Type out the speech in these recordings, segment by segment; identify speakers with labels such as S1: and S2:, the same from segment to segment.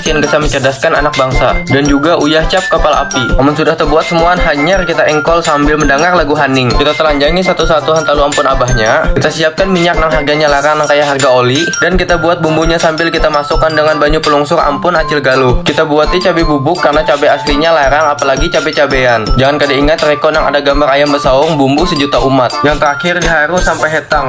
S1: Kian bisa mencerdaskan anak bangsa Dan juga uyah cap kapal api Amun sudah terbuat semuaan hanyar kita engkol sambil mendangar lagu haning Kita telanjangi satu-satu hantalu ampun abahnya Kita siapkan minyak nang harganya larang nang kaya harga oli Dan kita buat bumbunya sambil kita masukkan dengan banyu pelungsur ampun acil galuh Kita buati cabe bubuk karena cabe aslinya larang apalagi cabe-cabean Jangan kada ingat reko nang ada gambar ayam besaung bumbu sejuta umat Yang terakhir diharu sampai hetang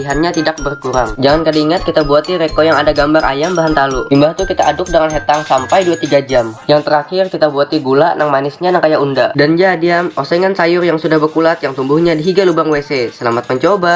S2: Latihannya tidak berkurang. Jangan kada ingat kita buati reko yang ada gambar ayam bahan talu. Imbah tu kita aduk dengan hetang sampai dua tiga jam. Yang terakhir kita buati gula nang manisnya nang kaya unda. Dan ja diam, osengan sayur yang sudah bekulat yang tumbuhnya di higa lubang WC. Selamat mencoba!